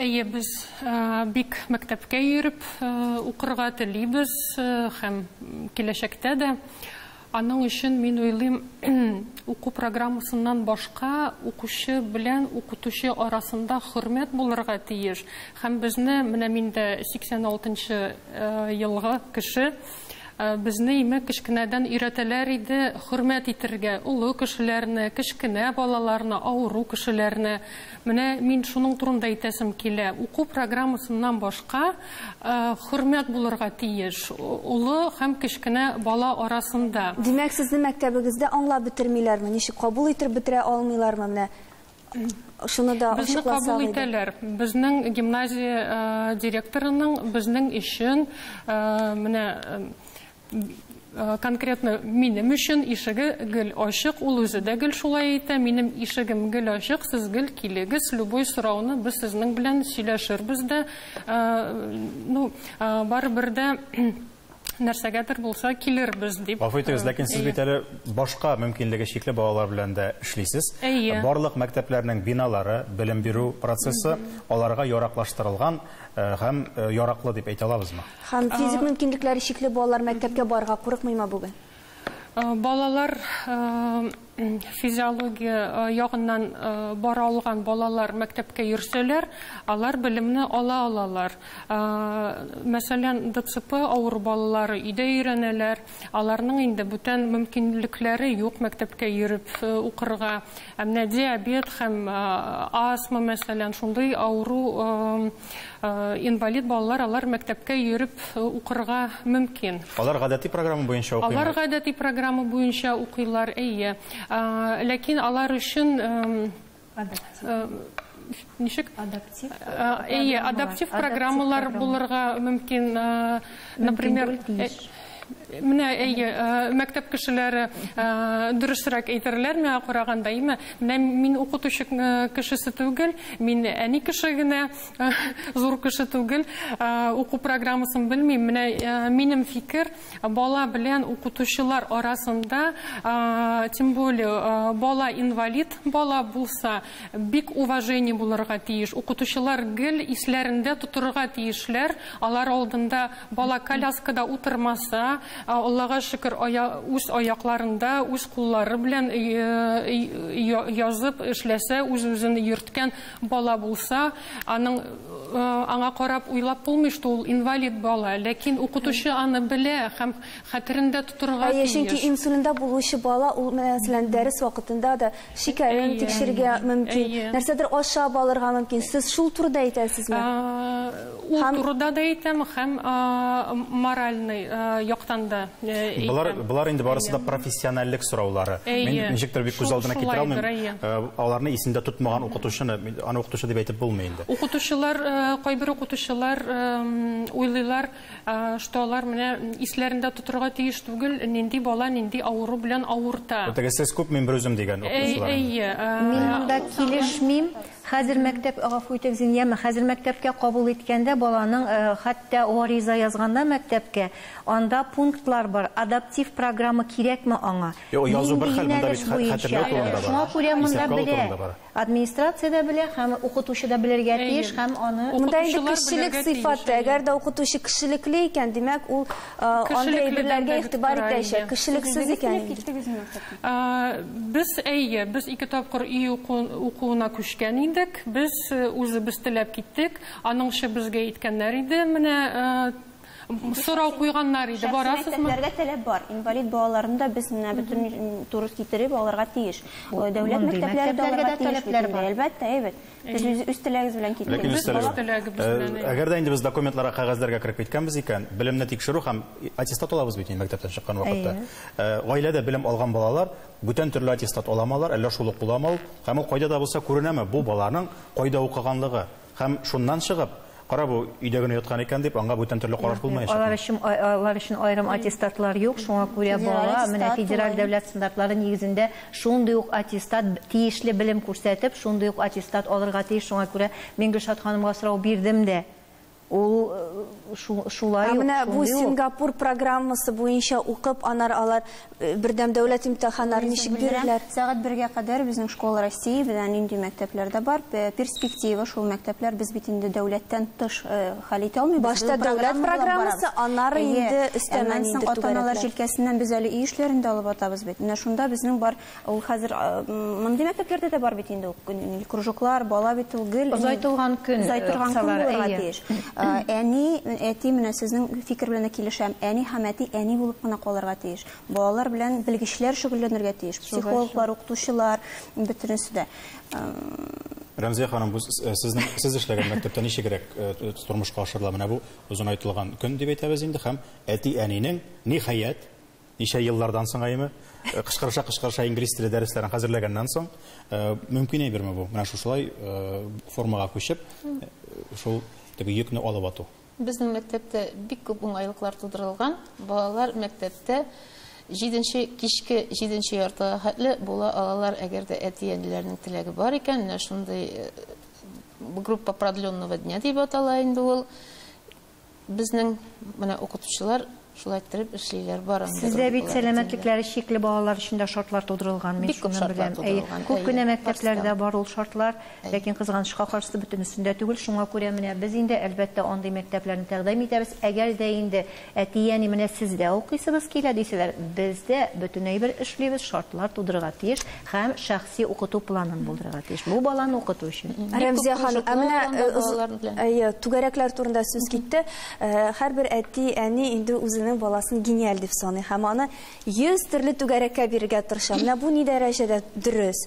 Әйе, без бик мәктәпкә йөреп укырга телибез һәм киләчәктә дә. Аның өчен мин уйлыйм, уку программасыннан башка укучы белән укытучы арасында хөрмәт булырга тиеш. Һәм безне, менә мин дә 86 нчы елгы кеше, Безне имек кечкенәдән өйрәтәләр иде хөрмәт итергә, олы кешеләрне, кечкенә балаларны, авыру кешеләрне. Менә мин шуның турында әйтәсем килә. Уку программасыннан башка хөрмәт булырга тиеш олы һәм кечкенә бала арасында. Димәк, сезне мәктәбегездә аңлап бетермиләрме, ничек кабул итеп бетерә алмыйлармы? Менә Шуны да Безне кабул итәләр. Безнең гимназия э, директорының безнең өчен э, менә Э, конкретно минем өчен ишеге гел ачык ул үзе дә гел шулай әйтә минем ишегем гел ачык сез гел килегез любой сорауны без сезнең белән сөйләшербез дә э, ну э, барыбер дә нәрсәгәдер булса килербез дип. Гафу итегез, ләкин сез бит әле башка мөмкинлеге чикле балалар белән дә эшлисез. Барлык мәктәпләрнең биналары, белем бирү процессы аларга яраклаштырылган һәм яраклы дип әйтә алабызмы? Һәм физик мөмкинлекләре чикле балалар мәктәпкә барырга курыкмыймы бүген? Балалар физиология ягыннан бара алган балалар мәктәпкә йөрсәләр, алар белемне ала алалар. Мәсәлән, ДЦП авыру балалары өйдә өйрәнәләр, аларның инде бүтән мөмкинлекләре юк мәктәпкә йөреп укырга. Ә менә диабет һәм астма, мәсәлән, шундый авыру Инвалид балалар алар мәктәпкә йөреп укырга мөмкин. Алар гадәти программа буенча укыймы? Алар гадәти программа буенча укыйлар, әйе. Ләкин алар өчен ничек адаптив программалар булырга мөмкин, например, Менә әйе, э, мәктәп кешеләре э, дөресрәк әйтерләр миңа караганда, әйме? Менә мин укытучы э, кешесе түгел, мин әни кеше генә, зур кеше түгел, уку программасын белмим. Менә минем фикер, бала белән укытучылар арасында, тем более, бала инвалид бала булса, бик уважение булырга тиеш. Укытучылар гел исләрендә тотырга тиешләр, алар алдында Бала коляскада утырмаса, Аллага шөкер, үз аякларында, үз куллары белән язып эшләсә, үз-үзен йөрткән бала булса, аның аңа карап уйлап булмый, что ул инвалид бала. Ләкин укытучы аны белә һәм хәтерендә тотырга тиеш. Әйе, чөнки инсулинда булучы бала, ул, мәсәлән, дәрес вакытында да Шикәрен Әйе. тикшерергә мөмкин, Әйе. нәрсәдер ашап алырга мөмкин. Сез шул турыда әйтәсезме? А, Ул Һәм- турыда да әйтәм һәм а, моральный а, яктан да э, әйтәм. Болар, болар инде барысы да профессиональлек сораулары. Әйе. Мин ничектер бик күз Шул- алдына китерә шулайдыр, алмыйм. әйе. Э, Аларны исендә тотмаган укытучыны, мин- аны укытучы дип әйтеп булмый инде. Укытучылар, э, кайбер укытучылар эм, уйлыйлар, Что алар менә исләрендә тотырга тиеш түгел, нинди бала нинди авыру белән авырта. Бу теге сез күп мин бер үзем дигән укытучылар. Әйе. Мин монда килешмим. Хәзер мәктәп, гафу итегез, инде яме, хәзер мәктәпкә кабул иткәндә баланың хәтта гариза язганда мәктәпкә, анда пунктлар бар, адаптив программа кирәкме аңа? Юк, язу бер хәл, монда бит хәтердә утыру турында бара. Шуңа күрә монда берәр. Администрация дә белә һәм укытучы да белергә тиеш һәм аны. Монда инде кешелек сыйфаты, әгәр дә укытучы кешелекле икән, димәк ул андый әйберләргә игътибар итәчәк. Кешелексез икән инде. Без, әйе, без ике тапкыр өй укуына күчкән идек. Без үзебез теләп киттек. Аның өчен безгә әйткәннәр иде, менә Сорау куйганнар иде, барасызмы? Шәхси мәктәпләргә таләп бар. Инвалид балаларны да без менә бөтен туры китереп алырга тиеш. Дәүләт мәктәпләре дә алырга тиеш бит инде. Әлбәттә, әйбәт. Без үз теләгебез белән киттек. Әгәр дә инде без документларга, кәгазьләргә кереп киткәнбез икән, белемне тикшерү һәм аттестат алабыз бит инде мәктәптән чыккан вакытта. Гаиләдә белем алган балалар бүтән төрле аттестат аламы алар, әллә шул ук буламы ул? Һәм ул кайда да булса күренәме бу баланың кайда укыганлыгы? Һәм шуннан чыгып, кара бу өйдә генә яткан икән дип, аңа бүтән төрле караш булмаячак. Алар өчен алар өчен аерым аттестатлар юк, шуңа күрә бала менә федераль дәүләт стандартлары нигезендә шундый ук аттестат, тиешле белем күрсәтеп, шундый ук аттестат алырга тиеш. Шуңа күрә мин Гөлшат ханымга сорау бирдем дә. Ул шулай ук, шундый ук. Ә менә бу Сингапур программасы буенча укып, анар алар Бердәм дәүләт имтиханнарын ничек бирерләр? Сәгать бергә кадәр безнең школа Россия белән нинди мәктәпләрдә бар, перспектива шул мәктәпләр, без бит инде дәүләттән тыш хәл итә алмыйбыз. Башта дәүләт программасы, аннары инде өстәмә нинди түгәрәкләр. Ата-аналар җилкәсеннән без әле өй эшләрен дә алып атабыз бит. Менә шунда безнең бар, ул хәзер мондый мәктәпләрдә дә бар бит инде ул кружоклар, бала бит ул гел. Озайтылган көн, озайтылган көн булырга тиеш. Әни, әти, менә сезнең фикер белән дә килешәм, әни һәм әти әни булып кына калырга тиеш. Балалар белән белгечләр шөгыльләнергә тиеш, психологлар, укытучылар, бөтенесе дә. Рәмзия ханым, бу сезнең, сез эшләгән мәктәптә ничегрәк тормышка ашырыла менә бу озынайтылган көн дип әйтәбез инде һәм әти-әнинең, ниһаять, ничә еллардан соң әйме, э, кычкырыша-кычкырыша инглиз теле дәресләрен хәзерләгәннән соң, э, мөмкин әйберме бу? Менә шушылай э, формага күчеп, шул теге йөкне алып ату. Безнең мәктәптә бик күп уңайлыклар тудырылган. Балалар мәктәптә җиденче кичке җиденче яртыга хәтле була алалар, әгәр дә әти-әниләрнең теләге бар икән, менә шундый группа продленного дня дип атала инде ул. Безнең менә укытучылар шулай иттереп эшлиләр, барын да Сездә бит укулар сәламәтлекләре чикле балалар өчен дә шартлар тудырылган, мин Бик күп шуны беләм. тудырылган, Күп кенә мәктәпләрдә бар ул шартлар, ләкин кызганычка каршы бөтенесендә түгел, шуңа күрә менә без инде, әлбәттә, андый мәктәпләрне тәкъдим итәбез. Әгәр дә инде әти-әни менә сездә укыйсыбыз килә дисәләр, без дә бөтен әйбер эшлибез, шартлар тудырырга тиеш һәм шәхси Сәяси укыту планын булдырырга тиеш. Бу баланы укыту өчен. Рәмзия ханым, ә менә э, түгәрәкләр турында сүз китте. Э, һәрбер әти, әни инде үзенең баласын гениаль дип саный һәм аны 100 төрле түгәрәккә бирергә тырыша. Менә бу ни дәрәҗәдә дөрес?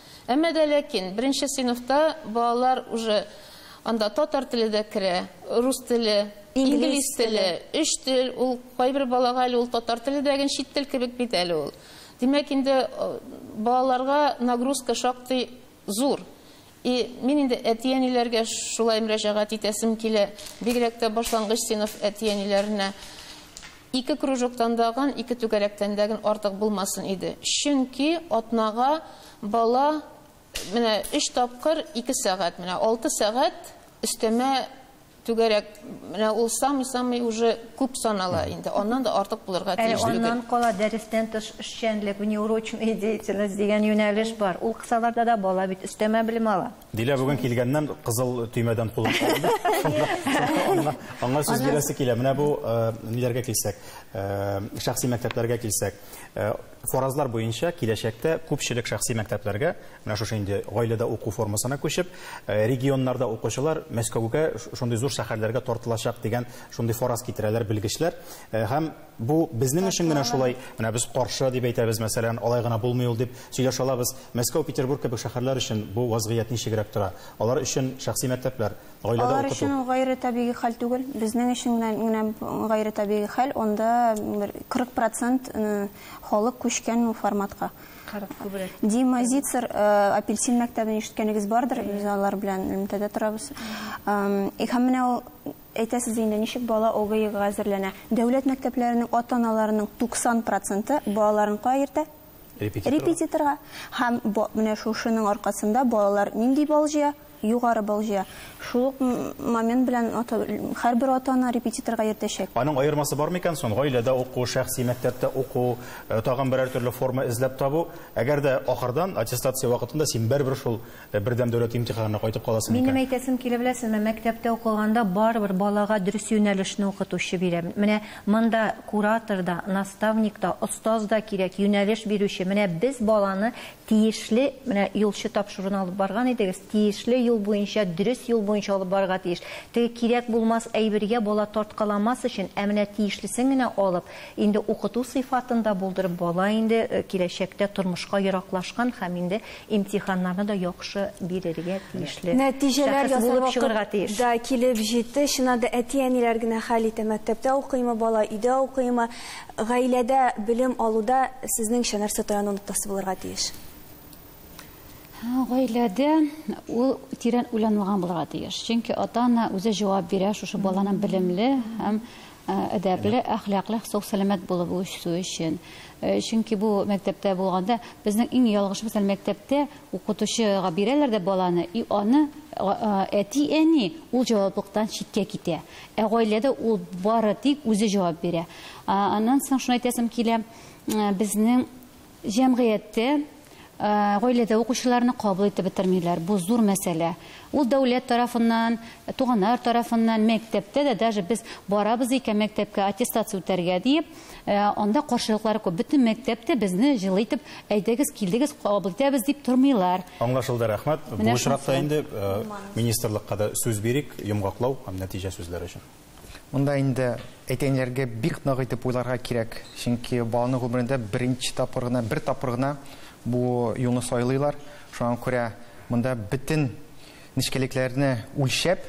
Әмма дә ләкин беренче сыйныфта балалар уже анда татар теле дә керә, рус теле, инглиз теле, өч тел, ул кайбер балага әле ул татар теле дә гел чит тел кебек бит әле ул. Димәк инде балаларга нагрузка шактый зур. И мин инде әти-әниләргә шулай мөрәҗәгать итәсем килә, бигрәк тә башлангыч сыйныф әти-әниләренә. Ике кружоктан дагын, ике түгәрәктән дәген артык булмасын иде. Чөнки атнага бала менә өч тапкыр ике сәгать, менә алты сәгать өстәмә түгәрәк, менә ул самый-самый уже күп санала инде. Аннан да артык булырга тиеш түгел. Ә аннан кала дәрестән тыш эшчәнлек, внеурочная деятельность дигән юнәлеш бар. Ул кысаларда да бала бит өстәмә белем ала. Дилә бүген килгәннән кызыл төймәдән кулын алды. Аңа сүз бирәсе килә. Менә бу э, ниләргә килсәк, э, шәхси мәктәпләргә килсәк, э, фаразлар буенча киләчәктә күпчелек шәхси мәктәпләргә, менә шушы инде гаиләдә уку формасына күчеп, регионнарда укучылар Мәскәүгә, шундый зур шәһәрләргә тартылачак дигән шундый фараз китерәләр белгечләр. Һәм Бу безнең өчен генә шулай, менә без каршы дип әйтәбез, мәсәлән, алай гына булмый ул дип сөйләшә алабыз. Мәскәү, Петербург кебек шәһәрләр өчен бу вазгыять ничегрәк тора? Алар өчен шәхси мәктәпләр, гаиләдә укыту. Алар өчен ул гайре табигый хәл түгел. Безнең өчен генә гайре табигый хәл, анда бер 40 процент халык күчкән ул форматка. 40 күбрәк. Дима Зицер, Апельсин мәктәбен ишеткәнегез бардыр, без алар белән элемтәдә торабыз. Һәм менә ул Әйтәсез инде, ничек бала ОГИга әзерләнә? Дәүләт мәктәпләренең ата-аналарының 90 проценты балаларын кая йөртә? Репетиторга. Репетиторга. Һәм бо, менә шушының аркасында балалар нинди балл җыя? Югары балл җыя. Шул ук момент белән ата, һәрбер ата-ана репетиторга йөртәчәк. Аның аермасы бармы икән сон? Гаиләдә уку, шәхси мәктәптә уку, тагын берәр төрле форма эзләп табу. Әгәр дә ахырдан, аттестация вакытында син барыбер шул Ә бердәм дәүләт имтиханына кайтып каласы микән? Минем әйтәсем килә, беләсезме, мәктәптә укыганда барыбер балага дөрес юнәлешне укытучы бирә. Менә монда куратор да, наставник та, остаз да кирәк, юнәлеш бирүче. Менә без баланы тиешле, менә юлчы тапшыруны алып барган идегез, тиешле юл буенча, дөрес юл буенча алып барырга тиеш. Теге кирәк булмас әйбергә бала тарткаламас өчен, ә менә тиешлесен генә алып, инде укыту сыйфатында булдырып, бала инде киләчәктә тормышка ераклашкан һәм инде Имтиханнарны да яхшы бирергә тиешле. Нәтиҗәләр ясар булып чыгарга тиеш. Да килеп җитте. Чыннан да әти-әниләр генә хәл итә, мәктәптә укыймы бала, өйдә укыймы. Гаиләдә белем алуда сезнеңчә нәрсә таяну ноктасы булырга тиеш? Гаиләдә ул тирән уйланылган булырга тиеш. Чөнки ата-ана үзе җавап бирә шушы баланың белемле һәм әдәпле, әхлаклы, сау-сәламәт булып үсү өчен. Чөнки бу мәктәптә булганда безнең иң ялгышыбыз әле мәктәптә укытучыга бирәләр дә баланы, и аны әти-әни ул җаваплыктан читкә китә. Ә гаиләдә ул бары тик үзе җавап бирә. Аннан соң шуны әйтәсем килә, безнең Җәмгыятьтә, гаиләдә укучыларны кабул итеп бетермиләр. Бу зур мәсьәлә. Ул дәүләт тарафыннан, туганнар тарафыннан, мәктәптә дә, даже без барабыз икән мәктәпкә аттестация үтәргә диеп, анда каршылыклар күп. Бөтен мәктәп тә безне җылы итеп, әйдәгез, килдегез, кабул итәбез дип тормыйлар. Аңлашылды, рәхмәт. Бу очракта инде министрлыкка да сүз бирик, йомгаклау һәм нәтиҗә сүзләре өчен. Монда инде әйтәеннәргә бик нык итеп уйларга кирәк, чөнки баланың гомерендә беренче тапкыр гына, бер тапкыр гына бу юлны сайлыйлар. Шуңа күрә монда бөтен нечкәлекләрне үлчәп,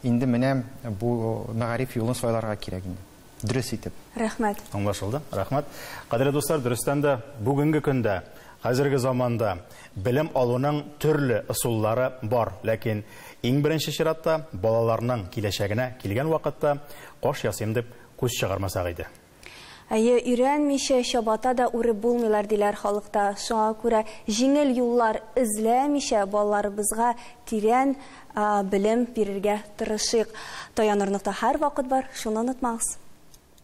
инде менә бу мәгариф юлын сайларга кирәк инде, дөрес итеп. Рәхмәт. Аңлашылды. Рәхмәт. Кадерле дуслар, дөрестән дә, бүгенге көндә Хәзерге заманда белем алуның төрле ысуллары бар, ләкин иң беренче чиратта балаларның киләчәгенә килгән вакытта каш ясыйм дип күз чыгармасак иде. Әйе, өйрәнмичә чабата да үреп булмыйлар, диләр халыкта. Шуңа күрә җиңел юллар эзләмичә балаларыбызга тирән белем бирергә тырышыйк. Таянырлык та һәрвакыт бар, шуны онытмагыз.